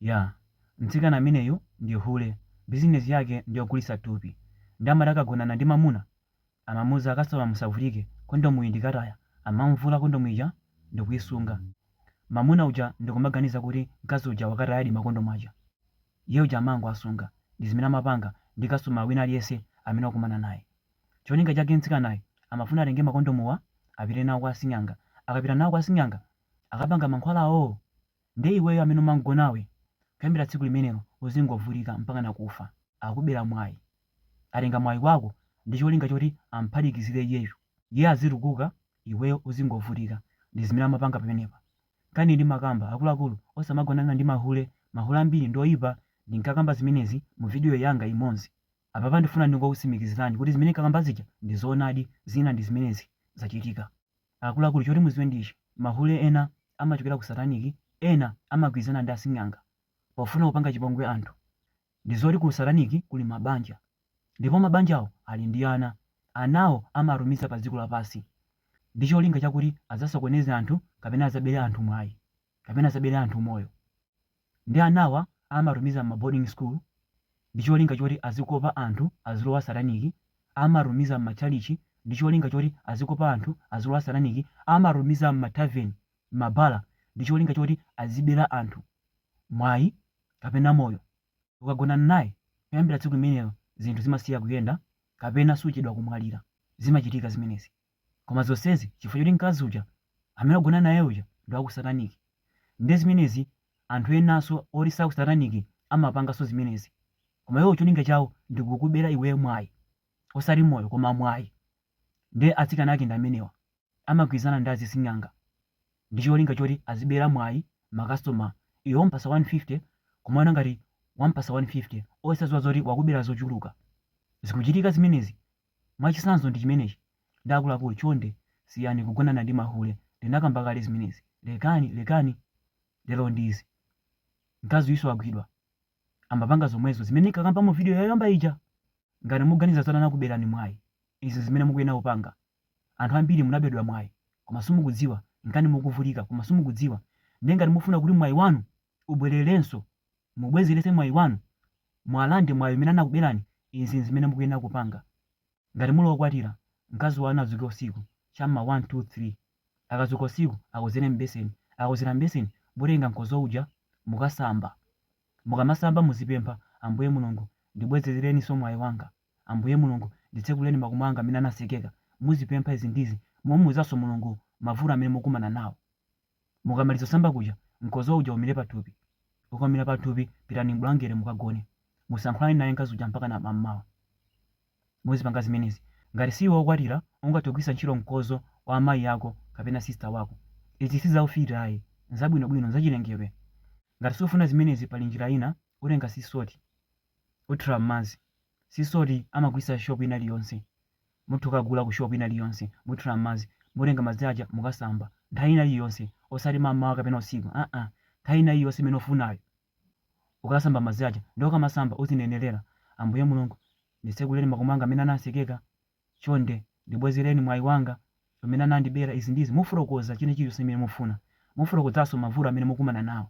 Yeah, mtsikana ameneyu ndi hule, business yake ndiyogulitsa thupi nde amati akagonana ndi mamuna amamuuza kasitoma musavutike kondomuyi ndikataya amamuvula kondomu ija ndikuisunga mamuna uja ndikumaganiza kuti mkazi uja wakatayadi makondomu aja iye uja amangowasunga ndizimene amapanga ndi customer wina aliyese amene wakumana naye. Cholinga chake mtsikanayu amafuna atenge makondomuwa apite nawo kwa sing'anga. Akapita nawo kwa sing'anga akapanga mankhwalawo ndiye iweyo amene umam'gonawe kuyambira tsiku limenelo uzingovutika mpakana kufa. Akubera mwayi. Atenga mwayi wako ndi cholinga choti am'phatikizire iyeyo. Iye azitukuka iweyo uzingovutika. Ndi zimene amapanga pamenepa. Nkhaniyi ndimakamba, akuluakulu osamagonana ndi mahule. Mahule ambiri ndi oipa. Ndinkakamba zimenezi muvidiyo yanga imodzi. Apapa ndifuna ndingokutsimikizilani kuti zimene nkakamba zija ndi zoonadi zina ndi zimenezi zachitika. Akuluakulu choti muziwe ndi ichi mahule ena amachokera ku satanic ena amagwirizana ndi asing'anga pofuna kupanga chipongwe anthu ndi zoti ku satanic kuli mabanja ndipo mabanjawo ali ndi ana anawo amatumiza pa dziko lapasi ndi cholinga chakuti azasokoneze anthu kapena azabele anthu mwayi kapena azabele anthu moyo Nde anawa amatumiza mma boarding school ndicholinga choti azikopa anthu azilowa sataniki, amatumiza mma chalichi ndicholinga choti azikopa anthu azilowa sataniki, amatumiza mma tavern, mma bala ndicholinga choti azibela anthu mwayi kapena moyo. Ukagonana naye kuyambila tsiku limenelo zinthu zimasiya kuyenda kapena suchedwa kumwalira. Zimachitika zimenezi. Koma zonsezi chifukwa choti mkazi uja amene wagonana naye uja ndi wa ku sataniki. Ndiye zimenezi anthu enanso oti si a ku sataniki amapanganso zimenezi. Koma iwowo cholinga chawo ndi kukubera iweyo mwayi. Osati moyo koma mwayi. Ndiye atsikana ake ndi amenewa. Amagwirizana ndi azising'anga ndi cholinga choti azibera mwayi makasitoma. Iwe wamupatsa 150 kumaona ngati wamupatsa 150 osadziwa zoti wakubera zochuluka. Zikuchitika zimenezi Mwachitsanzo ndi chimenechi, nde akuluakulu chonde siyani kugonana ndi mahule ndinakamba kale zimenezi lekani lekani lero ndi izi mkazi uyuso wagwidwa amapanga zomwezo zimene nkakamba mu video yoyamba ija ngati muganiza zoti anakuberani mwayi izi nzimene mukuyenera kupanga anthu ambiri munabedwa mwayi koma simukudziwa nkani mukuvutika koma simukudziwa ndiye ngati mufuna kuti mwayi wanu ubwererenso, mubwezeretse mwayi wanu, mukalande mwayi umene anakubelani, izi nzimene mukuyenera kupanga. Ngati muli okwatira, mkazi wanu adzuke usiku, cha m'ma 1 2 3. Akadzuka usiku, akozere m'beseni. Akakozera m'beseni, mutenga mkodzo uja, mukasamba. Mukamasamba muzipempha, Ambuye Mulungu, ndibwezerereninso mwayi wanga. Ambuye Mulungu, nditsekulireni makomo anga amene anatsekeka. Muzipempha izi ndi izi, mumuuzanso Mulungu mavuto amene mukukumana nawo. Mukamaliza kusamba kuja, mkodzo uja umire pathupi. Ukaumira pathupi, pitani m'bulangete mukagone. Musayankhulane naye mkazi uja mpakana mam'mawa. Muzipanga zimenezi. Ngati siwe wokwatira, ungathe kugwitsa ntchito mkodzo wa amayi ako kapena sisita wako. Izi si zaufiti ayi, n'zabwinobwino, n'zachilengedwe. Ngati sufuna zimenezi pali njira ina, utenga sea salt, uthira m'madzi. Sea salt amagwitsa shop ina iliyonse. Mutha kukagula ku shop ina iliyonse muthira mmadzi mutenga madzi aja mukasamba nthawi ina iliyonse osati mammawa kapena usiku aa nthawi ina iliyonse imene ufunayo ukasamba madzi aja nde ukamasamba uzinenelela Ambuye Mulungu nditsekulileni makomo anga amene ananditsekela chonde ndibwezeleni mwayi wanga umene anandibela izi ndi izi mufotokoza china chilichonse chimene mufuna mufotokozaso mavuto amene mukumana nawo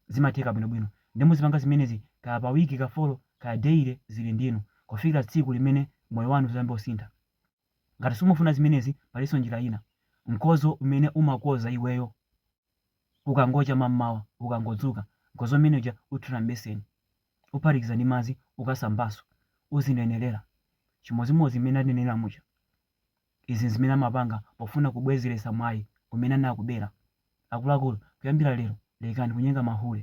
Zimatheka bwino bwino. Nde muzipanga zimenezi kaya pa week ka folo kaya daily zili ndinu. Kufikila tsiku limene moyo wanu uzayambe kusintha. Ngati simufuna zimenezi palinso njira ina. Mkozo umene umakoza iweyo kukangocha mammawa ukangodzuka. Mkozo umene uja uthira m'beseni. Uphatikiza ndi madzi ukasambanso. Uzinenelela chimodzimodzi mmene ndanenela muja. Izi n'zimene amapanga pofuna kubwezeletsa mwayi umene anakubela. Akuluakulu, kuyambila lelo lekani kunyenga mahule.